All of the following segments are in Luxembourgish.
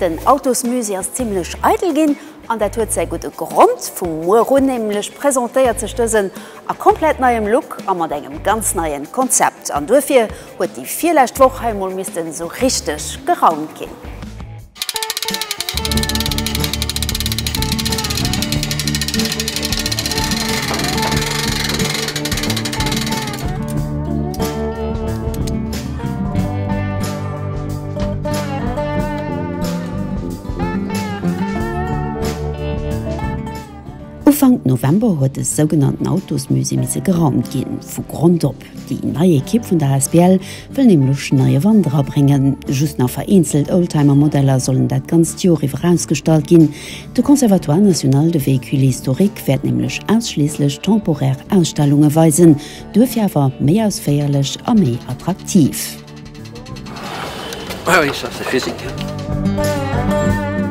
Den Autosmusée ass zimlech eidel ginn an dat huet säi gudde Grond. Vu muer un nämlech presentéiert sech dësen a komplett neiem Look a mat engem ganz neie Konzept. An duerfir huet déi virlescht Woch hei mol missten esou richteg geraumt ginn. Ufank November huet de sougenannten Autosmusée misse geraumt ginn. Vu Grond op. Déi nei Ekipp vun der Asbl wëll nämlech neie Wand era bréngen. Just nach vereenzelt Oldtimer-Modeller sollen dat ganzt Joer iwwer ausgestallt ginn. De Conservatoire National de Véhicules Historiques wäert nämlech ausschliisslech temporär Ausstellunge weisen, duerfir awer méi ausféierlech a méi attraktiv.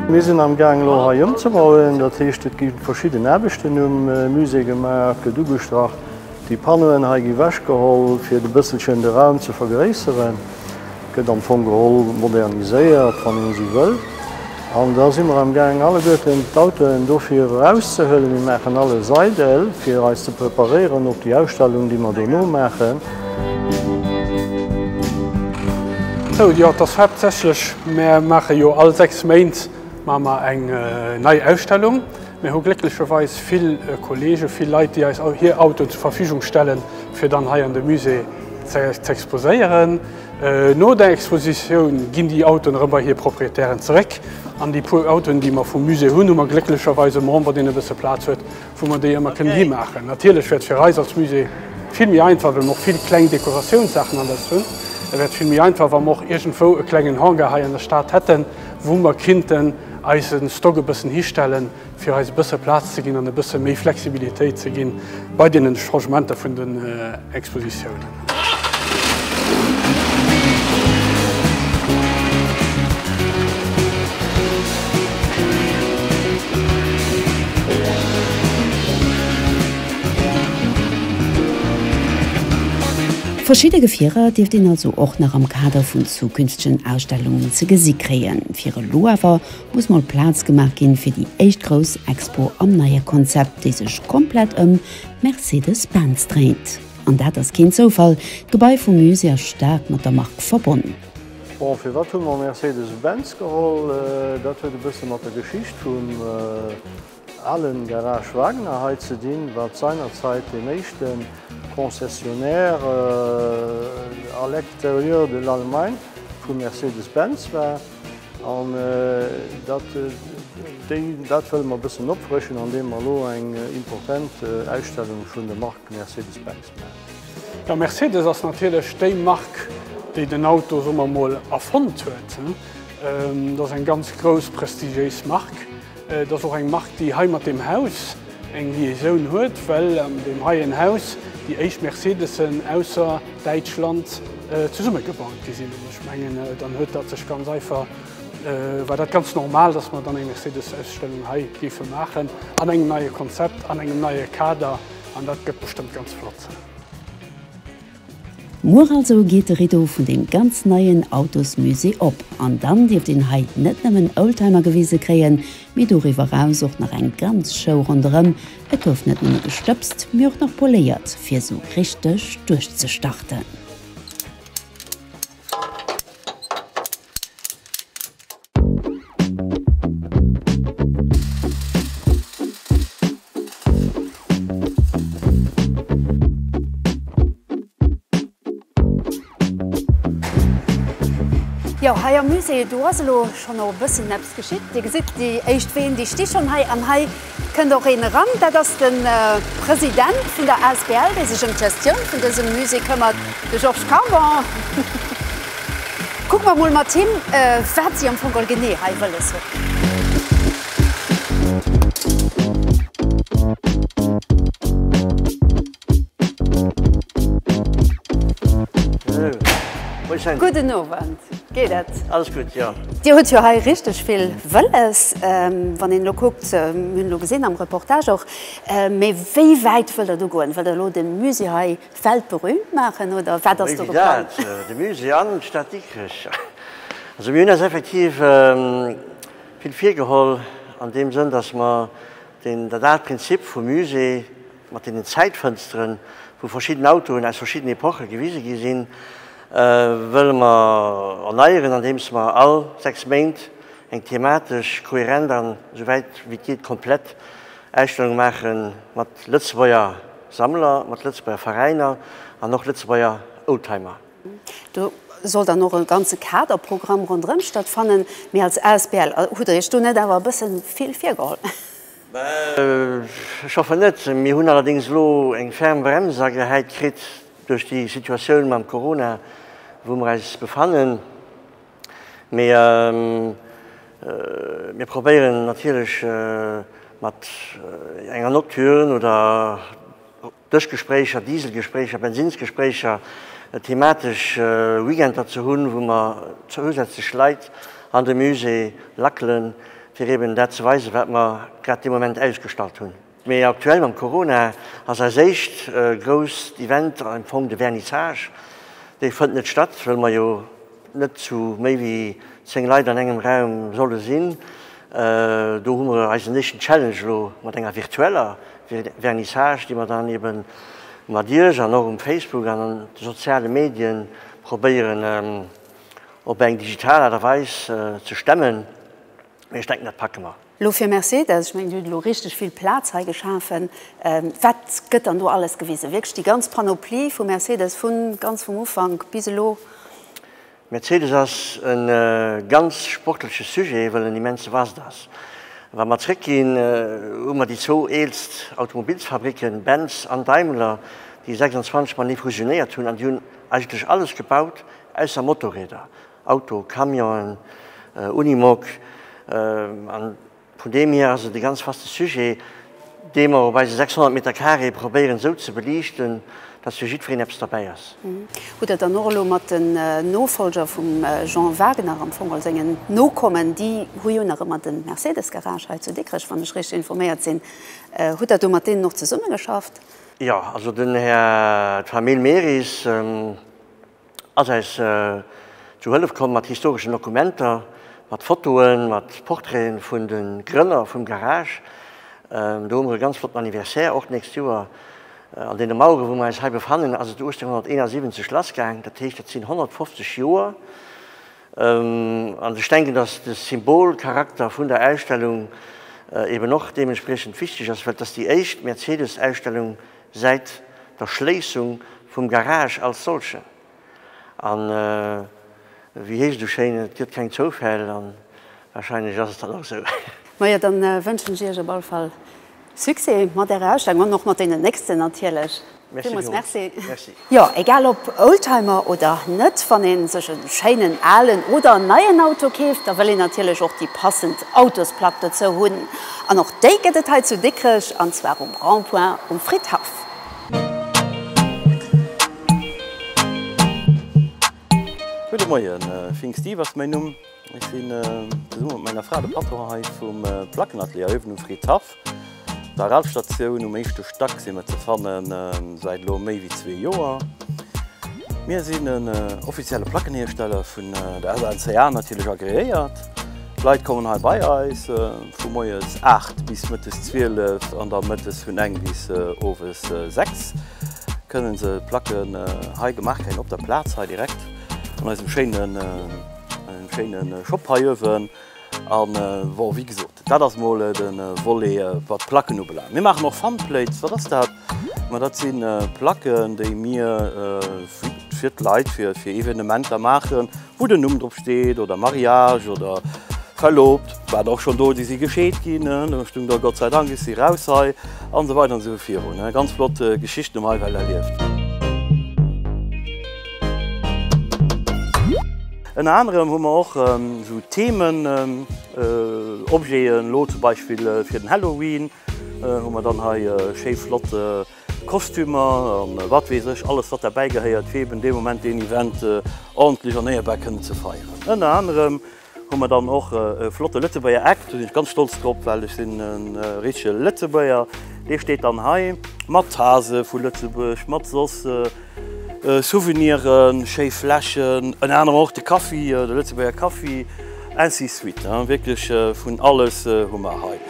Mir sinn am Gaang elo hei ëmzebauen, dat heescht et gi verschidden Aarbechten um Musée gemaach, gëtt ugestrach. Déi Panneauen hei gi wechgeholl fir et e bësselchen de Raum ze vergréisseren, gëtt am Fong geholl moderniséiert wann ee si wëll. An da si mer am Gaang alleguerten d'Autoen dofir erauszehuelen. Mir maachen alles eidel, fir eis ze preparéieren op déi Ausstellung, déi mer dono maachen. Sou, jo, et ass haaptsächlech, mir maache jo all sechs Méint maache mer eng nei Ausstellung. Mir hu glécklecherweis vill Kollegen, vill Leit, déi eis hir Autoen zur Verfügung stellen, fir dann hei an de Musée ze exposéieren. No der Expositioun ginn déi Autoen erëm bei hir Proprietären zeréck. An déi puer Autoen, déi mer vum Musée hunn, hu mer glécklecherweis e Member, deen e bësse Plaz huet, wou mer déi ëmmer kënnen himaachen. Natierlech wäert fir eis als Musée vill méi einfach, well mer och vill kleng Dekoratiounssachen alles hunn, et wäert vill méi einfach, wa mer och iergendwou e klengen Hangar hei an der Stad hätten, wou mer kinnten eise Stock e bëssen histellen, fir eis e bësse Plaz ze ginn an e bësse méi Flexibilitéit ze gi bei deenen Changementer vun den Expositiounen. Verschidde Gefierer dierft een also och nach am Kader vun zukünftegen Ausstellungen ze gesi kréien. Fir elo awer muss mol Plaz gemaach ginn fir déi éischt grouss Expo am neie Konzept, déi sech komplett ëm Mercedes-Benz dréint. An dat ass keen Zoufall, d'Gebai vum Musée ass staark mat der Mark verbonn. Bon, firwat hu mer Mercedes-Benz geholl? Dat huet e bësse mat der Geschicht vum. Alain Garage Wagner hei ze dinn, wat seinerzäit deen éischte Concessionnaire à l'extérieur de l'Allemagne vu Mercedes-Benz war. An dat dat wëlle mer e bëssen opfrëschen, andeem mer elo eng important Ausstellung vun der Mark Mercedes-Benz maachen. Jo, Mercedes ass natierlech déi Mark, déi den Auto, soe mer emol, erfonnt huet. Dat ass eng ganz grouss, prestigiéis Mark. Et ass och eng Mark, déi hei mat deem Haus eng Liaisoun huet, well an deem heien Haus déi éischt Mercedesen ausser Däitschland zesumme gebaut gi sinn. An ech mengen, dann huet dat sech ganz einfach, war dat ganz normal, dass mer dann eng Mercedes-Ausstellung hei géife maachen, an engem neie Konzept, an engem neie Kader, an dat gëtt bestëmmt ganz flott sinn. Muer also geet de Rideau vun deem ganz neien Autosmusée op an dann dierft een hei net nëmmen Oldtimer gewise kréien, mee doriwwer eraus och nach eng ganz Show ronderëm. Et gouf net nëmme gestëbst, mee och nach poléiert, fir esou richteg duerchzestarten. Jo, hei am Musée, do ass elo schonn och e bëssen eppes geschitt. Dir gesitt déi éischt Ween, déi sti schonn hei. An hei. Et kënnt och een eran, dat ass de President vun der Asbl, dee sech ëm d'Gestioun vun dësem Musée këmmert, de Georges Carbon. Kucke mer emol mat him, wat si am Fong all genee hei wëlles hunn. Gudden Owend, geet et? Alles gutt, jo. Dir hutt jo hei richteg vill Wëlles, wann een elo kuckt, mir hunn elo gesinn am Reportage och. Mee wéi wäit wëllt Der do goen? Wëllt Der elo de Musée hei weltberühmt maachen oder wat ass do geplangt? Wéi dat? De Musée an d'Stad Dikrech? Also mir hunn eis effektiv vill virgeholl an deem Sënn, datt mer dat aalt Prinzip vum Musée, mat deenen Zäitfënsteren, wou verschidden Autoen aus verschidden Epoche gewise gi sinn, wëlle mer erneieren, andeems mer all sechs Méint eng thematesch kohärent an esou wäit wéi et geet komplett Ausstellung maache mat Lëtzebuerger Sammler, mat Lëtzebuerger Veräiner an och Lëtzebuerger Oldtimer. Do soll dann och e ganze Kaderprogramm ronderëm stattfannen. Mee als asbl hutt Der Iech do net awer e bësse vill virgeholl? Mä ech hoffen net. Mir hunn allerdéngs elo eng ferm Brems agehäit kritt duerch déi Situatioun mam Corona, wou mer eis befannen. Mee mir probéieren natierlech mat enger Nocturne oder. Dëschgespréicher, Dieselgespréicher, Bensinnsgespréicher, thematesch Weekender ze hunn, wou mer zousätzlech Leit an de Musée lackelen, fir eben dat ze weisen, wat mer grad dee Moment ausgestallt hunn. Mee aktuell mam Corona ass eist éischt grousst Event am Fong de Vernissage. Dee fënnt net statt, wëll mer jo. net zu méi wéi 10 Leit an engem Raum solle sinn. Do hu mer eisen éischten Challenge elo mat enger virtueller Vernissage, déi mer dann eben mat Iech an och um Facebook an an de soziale Medien probéieren op eng digital Aart a Weis ze stemmen. mee ech denken dat packe mer. Lo fir Mercedes, ech mengen dir hutt elo richteg vill Plaz hei geschafen. Wat gëtt dann do alles gewisen? Wierklech déi ganz Panoplie vu Mercedes vu ganz vum Ufank bis elo? Mercedes ass e ganz sportleche Sujet, well en immense vast ass. Wa mer zréckginn, hu mer déi zwou eelst Automobilsfabricken, Benz an Daimler, déi 26 matenee fusionéiert hunn, an déi hunn eigentlech alles gebaut ausser Motorräder. Auto, Camionen, Unimog, a vun deem hier ass et e ganz vaste Sujet, dee mer op eise 600 Meter carré probéieren esou ze beliichten, datt fir jiddwereen eppes derbäi ass. Hutt Der dann och elo mat den Nofolger vum Jean Wagener, am Fong als engen Nokommen, déi hu jo nach ëmmer de Mercedes-Garage hei zu Dikrech, wann ech richteg informéiert sinn, hutt Der do mat deenen och zesummegeschafft? Jo, also den Här Jamil Merisch, ass eis zu Hëllef komm mat historeschen Dokumenter, mat Fotoen, mat Portraiten vun de Grënner vum Garage. Do hu mer e ganz flotten Anniversaire och d'nächst Joer. An deene Mauere wou mer eis hei befannen, ass et 1871 lassgaang. Dat heescht, dat sinn 150 Joer. An ech denken, dass de Symbolcharakter vun der Ausstellung eeben och deementspriechend wichteg ass, well et ass déi éischt Mercedes-Ausstellung Säit der Schléissung vum Garage als solchen. An wéi heescht et esou schéin, et gëtt keng Zoufäll, an wahrscheinlech ass et dann och esou. Majo, dann wënschen ech iech op all Fall Succès mat ärer Ausstellung an och mat deenen nächsten natierlech. Merci Villmols Merci. Jo, egal ob Oldtimer oder net, wann een sech e schéinen alen oder neien Auto keeft, da wëll een natierlech och déi passend Autosplack dozou hunn. An och déi gëtt et hei zu Dikrech, an zwar um Rond-point um Fridhaff. Gudde Moien, Fink Steve ass mäin Numm. Ech sinn zesummen mat menger Fra de Patron hei vum Plackenatelier Avenue Fritz-Haff. Op der Ralfstatioun um éischte Stack si mer ze fannen, säit elo méi wéi zwee Joer. Mir sinn en offizielle Plackenhiersteller, vun der SNCA natierlech agreéiert. D'Leit kommen hei bei eis vu moies 8 bis mëttes 12 an da mëttes vun 9 bis owes 6 kënne se d'Placken hei gemaach kréien, op der Plaz hei direkt an eisem schéine. En schéinen Shop hei uewen an bon wéi gesoot daat ass mol den Volet waat Placken ubelaangt. Mir maachen och Funplates. Waat ass daat? Ma daat sinn Placken déi mir fir d'Leit fir Evenementer maachen wou den Numm drop steet oder Mariage oder Verloobt. Waren och schon do déi si gescheet ginn do stung da Gott sei Dank ech si raus hei an esou weider an esou virun. Ganz flott Geschichten um hei well erlieft. Ënner anerem hu mer och esou Themen, Objeten, elo zum Beispill fir den Halloween hu mer dann hei schéi flott Kostümer an wat weess ech alles wat derbäi gehéiert fir eben dee Moment deen Event ordentlech an éierbär kënnen ze feieren. Ënner anerem Hu mer dann och e flotte Lëtzebuerger Eck. Do sinn ech ganz stolz drop, well ech sinn e richtege Lëtzebuerger. Dee steet dann hei mat Tase vu Lëtzebuerg, mat soss Souveniren, schéi Fläschen, ënner anerem och de Kaffi, de Lëtzebuerger Kaffi, ainsi de suite. Wierklech vun alles hu mer hei.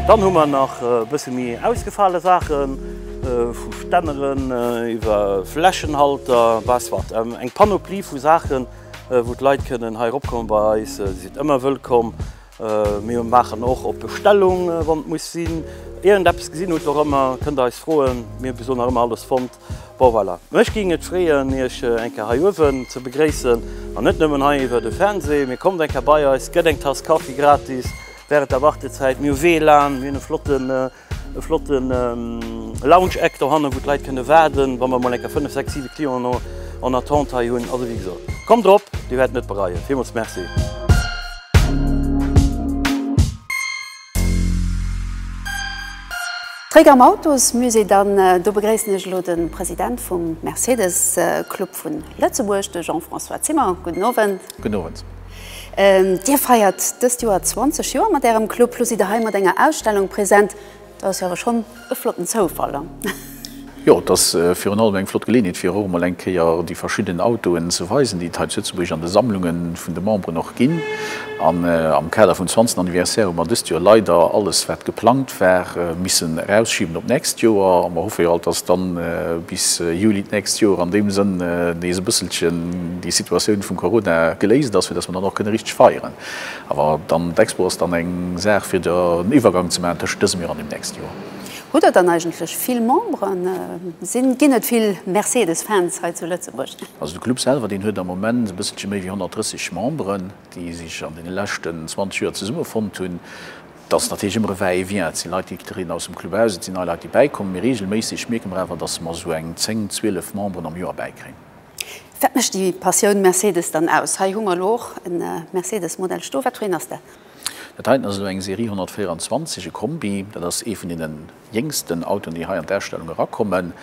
Dann hu mer nach e bësse méi ausgefale Saachen, vu Stänneren iwwer Fläschenhalter bis wat, eng Panoplie vu Saachen, wou d'Leit kënnen hei eropkommen. Bei eis si se ëmmer wëllkomm. Mir maachen och op Bestellung, wann et muss sinn. Iergendeppes gesinn hutt, och ëmmer kënnt Der eis froen, mir besoen nach ëmmer alles fonnt. Bon voilà, mech ging et freeën iech eng Kéier hei uewen ze begréissen an net nëmmen hei iwwer de Fernseh, mee kommt eng Kéier bei eis, gëtt eng Tass Kaffi gratis während der Wartezäit. Mir hu WLAN, mir hunn e flotten e flotten Lounge Eck dohannen, wou d'Leit kënne waarden, wa mer mol eng Kéier 5, 6, 7 Clienten en attente hei hunn. Also wéi gesot, kommt erop, dir wäert net bereien. Villmools Merci. Zréck am Autosmusée dann. Do begréissen ech elo de President vum Mercedes Club vu Lëtzebuerg, de Jean-François Zimmer. Gudden Owend. Gudden Owend. Dir feiert dëst Joer 20 Joer mat Ärem Club. Lo sidd Der hei mat enger Ausstellung present. Dat ass jo awer schonn E flotten Zoufall, an? Jo, et ass virun allem eng flott Geleeënheet, fir erëm emol eng Kéier déi verschidden Autoen ze weisen, déi et hei zu Lëtzebuerg an de Sammlunge vun de Memberen och ginn. An am Kader vum zwanzten Anniversaire hu mer dëst Joer leider alles, wat geplangt war, missen erausschiben op d'nächst Joer. A mer hoffe jo alt, dass dann bis Juli d'nächst Joer an deem Sënn nees e bësselchen déi Situatioun vum Corona geléist ass, fir dass mer dann och kënne richteg feieren. Awer dann, d'Expo ass dann eng Saach fir den Iwwergang ze maachen tëschent dësem Joer an dem nächste Joer. Hutt der dann eigentlech vill Memberen? Sinn, ginn et vill Mercedes-Fans hei zu Lëtzebuerg? Also de Club selwer, deen huet am Moment e bësselche méi wéi 130 Memberen, déi sech an deene leschten 20 Joer zesumme fonnt hunn. Et ass natierlech ëmmer e va et vient, et si Leit, déi trieden aus dem Club aus, et sinn nei Leit, déi bäikommen, mee reegelméisseg mierke mer awer, datt mer esou eng 10, 12 Memberen am Joer bäikréien. Wat mécht déi Passioun Mercedes dann aus? Hei hu mer elo och e Mercedes Modell stoe. Wat fir een ass dat? Dat heiten ass elo eng Serie 124, e Kombi. Dat ass ee vun deenen jéngsten Autoen, déi hei an d'Ausstellung erakommen.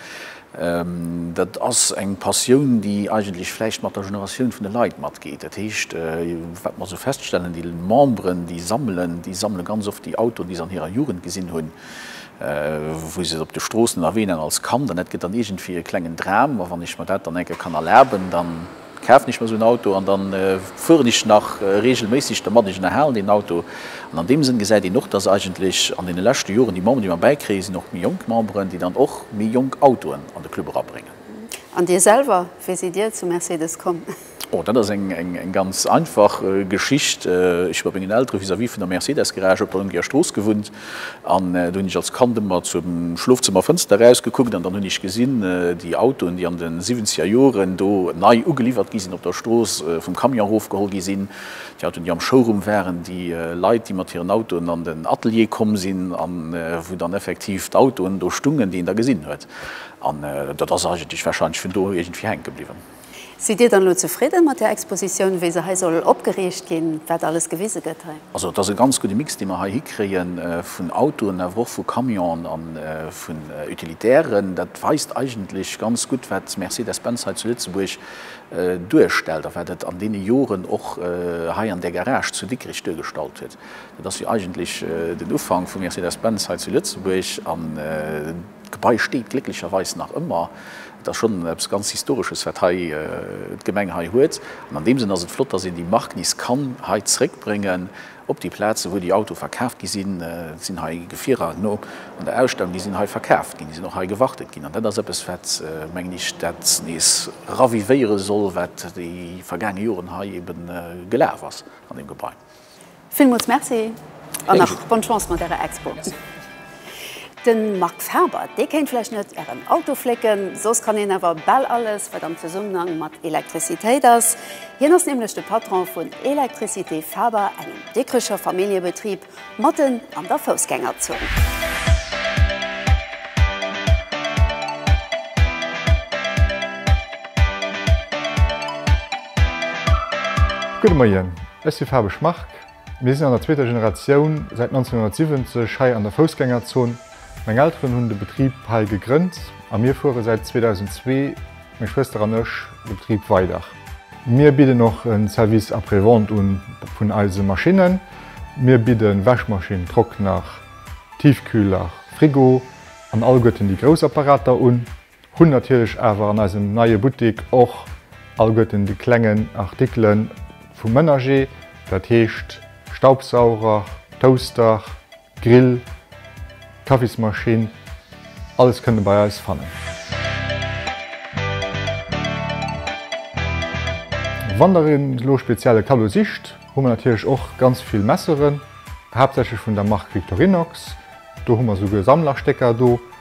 Dat ass eng Passioun, déi eigentlech vläicht mat der Generatioun vun de Leit matgeet. Dat heescht, wat mer esou feststellen, déi Memberen, déi sammelen, déi sammele ganz oft déi Autoen, déi se an hirer Jugend gesinn hunn. wou se op de Stroossen a Ween an als Kand, an dat gëtt dann iergendwéi e klengen Dram, ma wann ech mer dat dann enke kann erlaben, dann kafen ech mer esou en Auto an dann fueren ech nach regelméisseg dermat, ech ënnerhalen deen Auto. An an deem Sënn gesäit een och, dass eigentlech an deene leschte Joren déi Memberen, déi mer bäikréie sinn och méi jonk Memberen, déi dann och méi jonk Autoen an de Club erabréngen. An Dir selwer, wéi sidd Dir zu Mercedes komm? Oh, dat ass eng ganz einfach Geschicht. Ech hu bei mengen Eltere vis-à-vis vun der Mercedes-Garage op der Lëngeger Strooss gewunnt an do hunn ech als Kand ëmmer zum Schlofzëmmerfënster erausgekuckt an dann hunn ech gesinn, déi Autoen, déi an de siwwenzeger Joren do nei ugeliwwert gi sinn, op der Strooss vum Camion erofgeholl gi sinn, déi Autoen, déi am Showroom waren, déi Leit, déi mat hiren Autoen an den Atelier komm sinn a wou dann effektiv d'Autoen do stungen, déi een da gesinn huet. An dat ass eigentlech warscheinlech vun do iergendwéi hänke bliwwen. Sidd Dir dann elo zefridden mat där Expositioun, wéi se hei soll opgeriicht ginn, wat alles gewise gëtt hei? Also et ass e ganz gudde Mix, dee mer hei hikréie vun Autoen, awer och vu Camionen a vun Utilitairen. Dat weist eigentlech ganz gutt, wat Mercedes-Benz hei zu Lëtzebuerg duerstellt a wat et an deene Joren och hei an där Garage zu Dikrech duergestallt huet. Dat ass jo eigentlech den Ufank vu Mercedes-Benz hei zu Lëtzebuerg. D'Gebai steet glécklecherweis nach ëmmer. Et ass schonn eppes ganz Historesches, wat hei d'Gemeng hei huet. An an deem Sënn ass et flott, dass een déi Mark nees kann hei zréckbréngen op déi Plaze wou déi Auto verkaaft gi sinn. Et sinn hei Gefierer no un der Ausstellung, déi sinn hei verkaaft ginn, déi sinn och hei gewartet ginn. An dat ass eppes, wat, mengen ech, dat nees ravivéiere soll, wat déi vergaange Joren hei ebe gelaf ass an deem Gebai. Villmools Merci an nach bonne Chance mat ärer Expo. De Max Habert, dee kéint vläicht net ären Auto flécken, soss kann hien awer bal alles, wat am Zesummenhang mat Elektrizitéit ass. Hien ass nämlech de Patron vun Électricité Faber, engem Dikricher Familljebetrib matten an der Foussgängerzon. Gudde Moien. Ech si Fabesch Marc. Mir sinn an der zweeter Generatioun säit 1970 hei an der Foussgängerzon. Meng Elteren hunn de Betrib hei gegrënnt a mir fuere säit 2002, meng Schwëster an ech, de Betrib weider. Mir bidden och e Service après-vente un vun eise Maschinnen. Mir bidde Wäschmaschinn, Trockner, Tiefkühler, Frigo an allguerten déi grouss Apparater un. Hunn natierlech awer an eisem neie Buttik och allguerten déi klengen Artikele vum Ménager, dat heescht Staubsauger, Toaster, Grill, Kaffismaschinn, alles kënnt e bei eis fannen. Wann der een elo speziell e Kaddo sicht, hu mer natierlech och ganz vill Messeren, haaptsächlech vun der Mark Victorinox, do hu mer souguer Sammlerstécker do,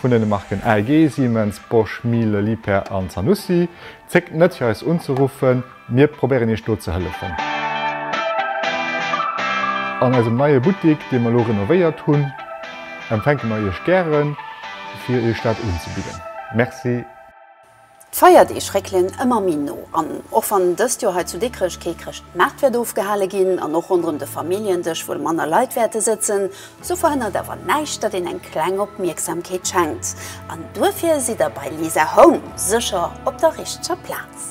vun den Marken AEG, Siemens, Bosch, Miele, Liebherr an Zanussi. Zéckt net fir eis unzeruffen, mir probéieren iech do ze hëllefen. An eisem neie Buttik, dee mer elo renovéiert hunn, empfänke mer iech gären fir iech dat unzebidden. Merci. D'Feierdeeg réckelen ëmmer méi no an och wann dëst Joer hei zu Dikrech kee Chrëschtmaart wäert ofgehale ginn an och ronderëm de Familljen-Dësch wuel manner Leit wäerte sëtzen, sou verhënnert awer näischt, datt een eng kleng Opmierksamkeet schenkt. An duerfir sidd der bei Lisa Home sécher op der richteger Plaz.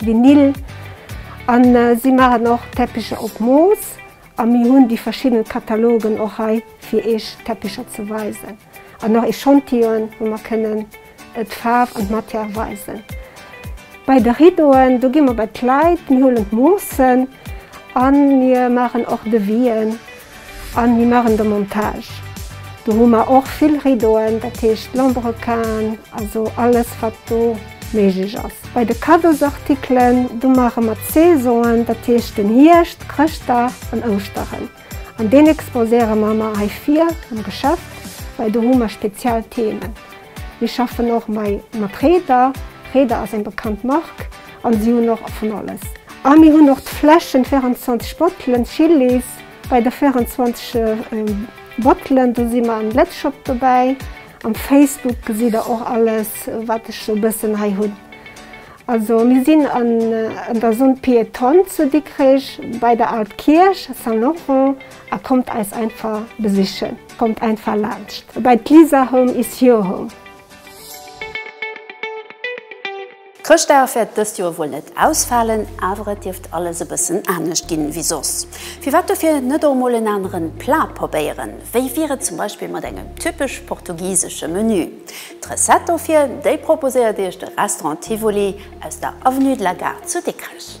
Vinyl an si maachen och Teppicher op Mooss a mir hunn déi verschidden Katalogen och hei fir Iech Teppicher ze weisen an och Echantillone wou mer kënnen d'Faarf an d'Matière weisen. Bei de Rideauen do gi mer bei d'Leit, mir huelen d'Moossen a mir maachen och Devis'en. An mir machen de Montage. Do hu mer och vill Rideauen, dat heescht Lambrequin, also alles wat do méiglech ass. Bei de Cadeausartikelen, do maache mer d'Saisonen, dat heescht den Hierscht, Chrëschtdag an Ouschteren. An deen exposéiere mer mar hei vir am Geschäft, well do hu mer speziell Themen. Mir schaffen och mei mat Reder. Reder ass eng bekannt Mark an si hunn och vun alles. A mir hunn och d'Fläschen, 24 Bottelen, Chillis. Bei de 24 Bottelen, do si mer am Blitzshop dobäi. Am Facebook gesitt der och alles wat ech sou bëssen hei hunn. Also mir sinn an der Zone Piétonne zu Dikrech bei der Al Kierch, Saint Laurent, a kommt eis einfach besichen. Kommt einfach laanscht bei d'Lisa Home is your home. D'Chrëschtdager wäert dëst Joer wuel net ausfalen, awer et dierft alles e bëssen anescht ginn wéi soss. Firwat dofir net och mol en aneren Plat probéieren? Wéi wier et zum Beispill mat engem typesch portugisesche Menü? D'Recette dofir, déi proposéiert iech de Restaurant Tivoli aus der Avenue de la Gare zu Dikrech.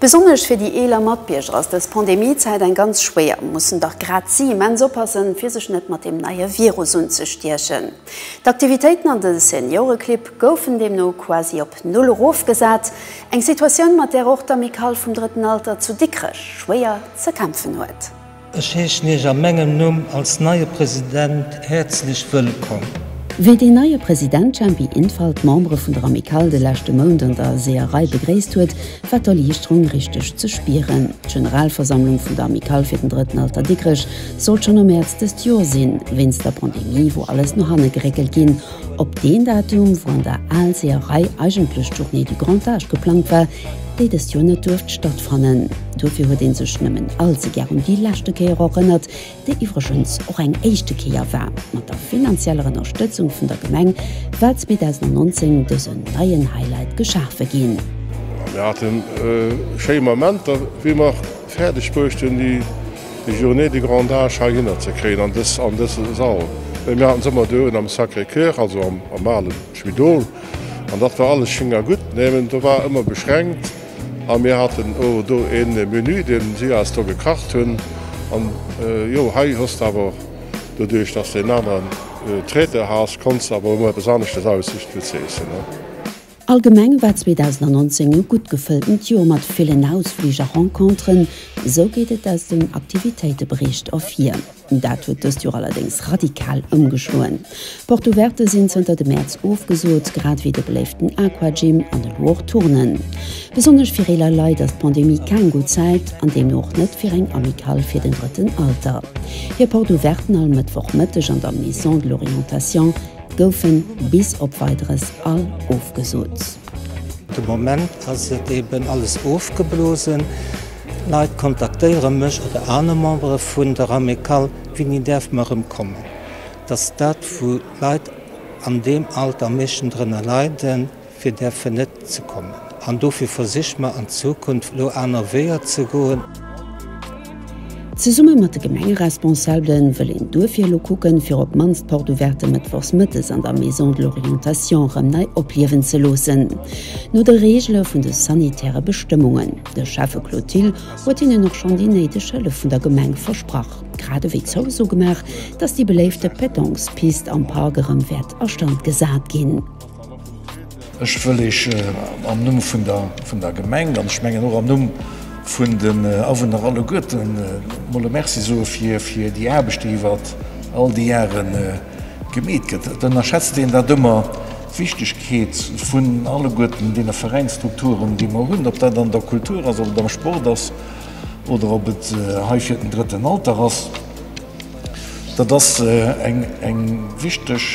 Besonnesch fir déi eeler Matbierger ass dës Pandemie-Zäit eng ganz schwéier. Mussen dach grad si immens oppassen, fir sech net mat deem neie Virus unzestiechen. D'Aktivitéiten an de Senioreclibb goufen deemno quasi op Null erofgesat. Eng Situatioun, mat där och d'Amicale vum Drëtten Alter zu Dikrech schwéier ze kämpfen huet. Ech heeschen Iech a mengem Numm als neie President häerzlech wëllkomm. Wéi deen neie President Jempi Infalt d'Membere vun der Amicale de leschte Mount an der Seeërei begréisst huet, war d'Erliichterung richteg ze spieren. D'Generalversammlung vun der Amicale fir den Drëtten Alter Dikrech sollt schonn am Mäerz dëst Joer sinn. Wéinst der Pandemie wor alles no hanne geréckelt ginn op deen Datum, wou an der Al-Seeërei eigentlech d'Journée du Grand Âge geplangt war, déi dëst Joer net duerft stattfannen. Dofir huet ee sech nëmmen allze gär un déi leschte Kéier erënnert, déi iwwregens och eng éischte Kéier war. Mat der finanzieller Ënnerstëtzung vun der Gemeng war 2019 dësen neien Highlight geschafe ginn. Mir haten e schéi Moment, wéi mer fäerdeg bruecht hunn, déi Journée du grand âge heihinner ze kréien, an dëse Sall. Mir haten se ëmmer do un am Sacré-Cœur, also am alen Spidol. An dat war alles schéin a gutt, mä do war ëmmer beschränkt a mir haten o do e Menü, deen si eis do gekacht hunn. An jo, hei hues de awer, doduerch dass de en aneren Traiteur has, konns de awer ëmmer eppes aneschtes aussicht fir ze iessen. Allgemeng war 2019 e gutt gefëlltent Joer mat villen Ausflich a Renconteren, esou geet et aus dem Aktivitéitebericht ervir. Dat huet dëst Joer allerdéngs radikal ëmgeschloen. D'Porte Ouverte sinn zënter de Mäerz ofgesot, grad ewéi de beléiften Aquagym an elo och d'Turnen. Besonnesch fir eeler Leit ass d'Pandemie keng gutt Zäit an deemno och net fir eng Amicale fir den drëtten Alter. Hir Porte Ouverten all Mëttwoch Mëtteg an der Maison de l'Orientation goufe bis op Weideres all ofgesot. De Moment ass et eeben alles ofgeblosen. Leit kontaktéiere mech oder aner Membere vun der Amicale, Winni däerf mer erëm kommen? Datt dat, wou Leit an deem Alter am meeschten drënner leiden, fir där fir net ze kommen. An dofir versiche mer an Zukunft elo aner Weeër ze goen. Zesumme mat de Gemengeresponsabelen wëll een duerfir elo kucken, fir op d'mannst d'Porte ouverte mëttwochs mëttes an der Maison de l'orientation erëm nei opliewen ze loossen, no de Reegele vun de sanitäre Bestëmmungen. De Schäffe Claude Thill huet hinnen och schonn déi néideg Hëllef vun der Gemeng versprach, grad ewéi d'Zouso gemaach, datt déi beléifte Pétanque-Pist am Park erëm wäert a Stand gesat ginn. Ech wëll lech am Numm vun der Gemeng, an ech mengen och am Numm vun den Awunner alleguerten, emol e Merci soe fir déi Aarbecht, déi iwwert all déi Jahre Gemeet gëtt. Et ënnerschätzt een dat ëmmer, d'Wichtegkeet vun alleguerten deene Veräinsstrukturen, déi mer hunn, ob dat an der Kultur ass, ob et am Sport ass oder ob et hei fir den drëtten Alter ass. Dat ass eng wichteg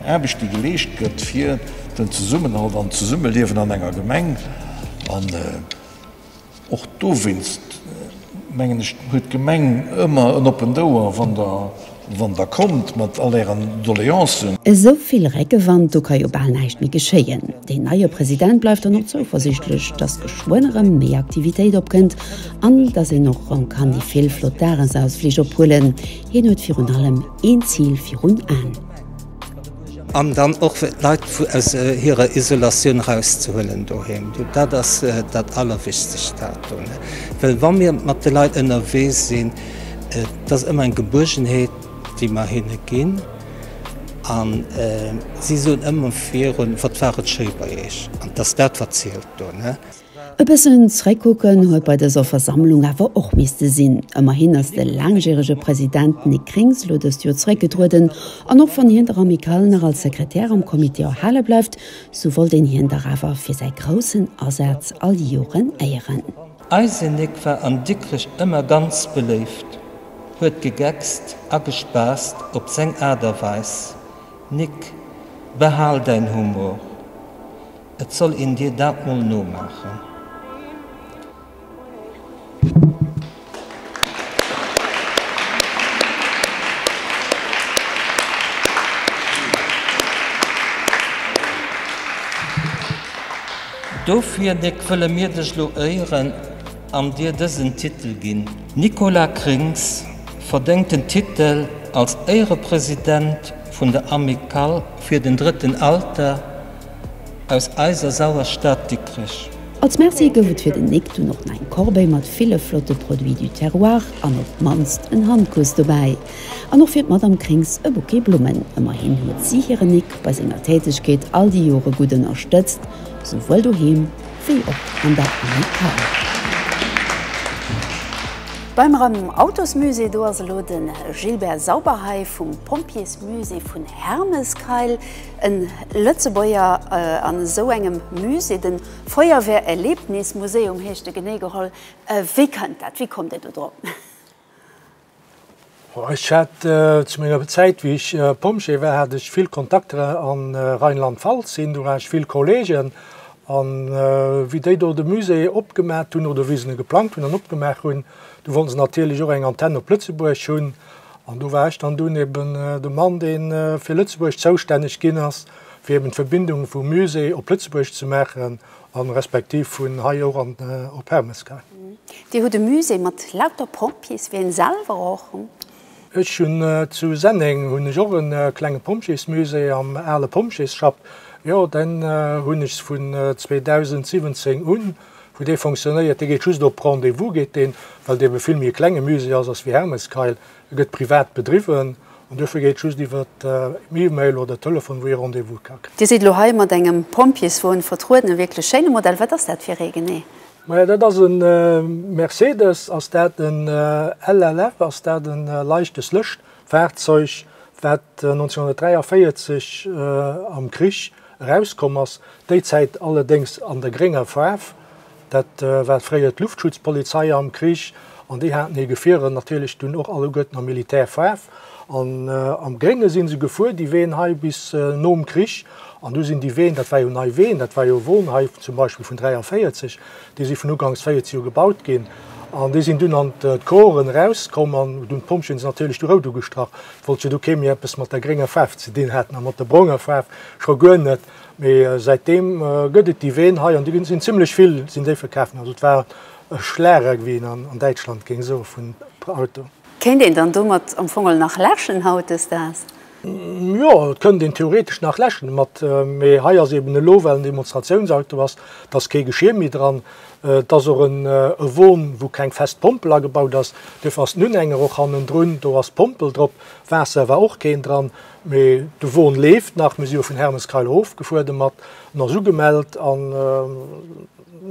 Aarbecht, déi geleescht gëtt, fir den Zesummenhalt an d'Zesummeliewen an enger Gemeng. Och dowéinst, mengen ech, huet d'Gemeng ëmmer en oppent Ouer, wann Der kommt mat all Ären Doleancen. Esou vill Réckewand, do ka jo bal näischt méi geschéien. Deen neie President bleift dann och zouversichtlech, dass geschwënn erëm méi Aktivitéit opkënnt an dass een och erëm kann déi vill flott Dagesausflich ophuelen. Hien huet virun allem een Zil virun Aen. An dann och fir d'Leit aus hirer Isolatioun erauszehuelen doheem. Dat ass dat Allerwichtigst dato. Well wa mir mat de Leit ënnerwee sinn, dat ass ëmmer eng Gebuergenheet, déi mer hinne ginn. An si soen ëmmer virun, Wat war et schéi bei Iech? An et ass dat, wat zielt do. E bëssen Zréckkucken huet bei dëser Versammlung awer och misste sinn. Ëmmerhin ass de laangjärege President Nic Grings elo dëst Joer zeréckgetrueden. An och wann hien der Amicale nach als Sekretär am Comité erhale bleift, sou wollt een hien dach awer fir säi groussen Asaz all déi Joren éieren. Eise Nic war an Dikrech ëmmer ganz beléift, huet gegeckst a gespaasst op seng Aart a Weis. Nic, behal däin Humor! Et soll een dir dat mol nomaachen. Dofir, Nic, wëlle mir dech elo éieren an dir dësen Titel ginn. D'Nicola Krings verdéngt den Titel als Éierepresident vun der Amicale fir den drëtten Alter. aus eiser sauer Stad Dikrech. Als Merci gouf et fir den Nik dunn och nach eng Corbeille mat ville flotte Produits du terroir an op d'mannst en Handkuss dobäi. An och fir d'Madame Krings e Bouquet Blummen. Ëmmerhin huet si hiren Nik bei senger Tätegkeet all déi Jore gutt ënnerstëtzt, souwuel doheem wéi och an der Amicale. Beim Rem Autosmusée, do ass elo de Gilbert Sauberhey vum Pompjeesmusée vun Hermeskeil. En Lëtzebuerger an esou engem Musée, den Feuerwehr Erlebnis Museum heescht e genee geholl. Wéi kënnt dat? Wéi kommt Dir do drop? Ech hat zu menger Zäit wéi ech Pompjee war hat ech vill Kontakter an Rheinland-Pfalz, sinn do laanscht vill Kollegen an wéi déi do de Musée opgemat hunn oder wéi se en geplangt hunn an opgemaach hunn, do wollten se natierlech och eng Antenn op Lëtzebuerg hunn. An do war ech dann dunn eben de Mann, dee fir Lëtzebuerg zoustänneg ginn ass, fir eben d'Verbindung vum Musée op Lëtzebuerg ze maachen a respektiv vun hei och an op Hermes gaangen. Dir hutt e Musée mat lauter Pompjees, wéi een selwer och. Ech hunn zu Senneng hunn ech och e klenge Pompjeesmusée am ale Pompjeesschapp. Jo, deen hunn ech vun 2017 un. Wou dee fonctionnéiert, dee geet just op Rendez-vous geet deen, well et ebe vill méi e klenge Musée ass, ass wéi Hermeskeil, e gëtt privat bedriwwen an duerfir geet just iwwer E-Mail oder Telefon, wou ee Rendez-vous ka kréien. Dir sidd elo hei mat engem Pompjeeswon vertrueden, e wierklech schéine Modell. Wat ass dat fir ee genee? Maja dat ass e Mercedes, ass dat en LLF, ass dat e leichtes Lëscht. D'Fahrzeug, wat 1943 am Krich erauskomm ass, déi Zäit allerdéngs an der grénger Faarf, dat war fréier d'Luftschutzpolizei am Krich an déi haten hir Gefierer natierlech dunn och alleguerten am Militärfaarf an am Grénge si se gefuer, déi Ween hei bis nom Krich. An du sinn déi Ween, dat war jo nei Ween, dat war jo Wohnheif zum Beispill vun 43, Déi si vun uganks 14 u gebaut ginn an déi sinn dunn an d'Coren erauskomm an hu dunn d'Pompjeeën se natierlech du rout ugestrach. Et wollt jo du kee méi eppes mat der grénger Faarf ze dinn hat a mat der braunger Faarf scho guer net. Mee säitdeem gëtt et déi Ween hei an déi sinn zimmlech vill, sinn déi verkaaft ginn. Also et war e Schlager, wéi een an Däitschland géing soe vun Auto. Kéint een dann domat am Fong nach läschen hautdesdaags? Jo, et kënnt een theoretesch nach läschen mat, mee hei ass eben elo well en Demonstratiounsauto ass, et ass kee Geschir méi dran, et ass och en e Won wou keng fest Pompel agebaut ass, duerfir ass den Unhänger och hannendrun, do ass d'Pompel drop, Waasser war och keen dran, mee de Won leeft nach. Mir si jo vun Hermeskeil erof gefuer domat, en ass ugemellt an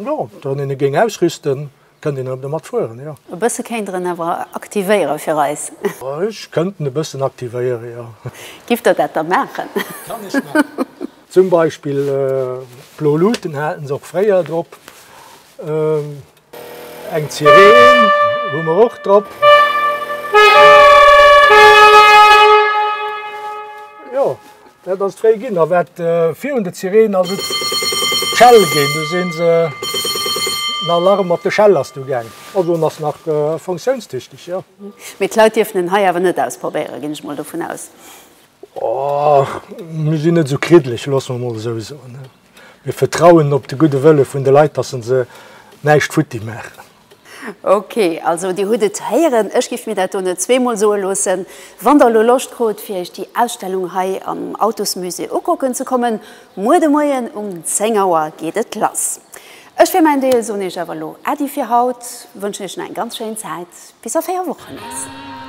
jo, wann een e géing ausrüsten, Kënnt een erëm domat fueren, jo. E bësse kéint Der en awer aktivéiere fir eis. Ech kënnt en e bëssen aktivéiere, jo. Giff Der dat da maachen? Kann ech maachen. Zum Beispill d'blo Luuten haten se och fréier drop. Eng Sireen hu mer och drop. Jo, Dat ass d'Réi ginn a wat virun de Sireen ass et d'Schell ginn. Du sinn se en Alarm mat de Schell ass du gaang. Also en ass nach funktionstüchteg jo. Mee d'Leit dierfen en hei awer net ausprobéieren, ginn ech mol dovun aus. Och mir sinn net esou kriddeleg, loosse mer mol esou soen. Mir vertrauen op de gudde Wëlle vun de Leit, dass se näischt futti maachen. Ok, also Dir hutt et héieren, ech giff mir dat do net zweemol soe loossen. Wann Der elo Loscht krut fir Iech déi Ausstellung hei am Autosmusée ukucken ze kommen, muer de Moien um 10 Auer geet et lass. Ech fir mäin Deel soen Iech awer elo Äddi fir haut, wënschen Iech nach eng ganz schéin Zäit bis a 4 Wochen. Merci.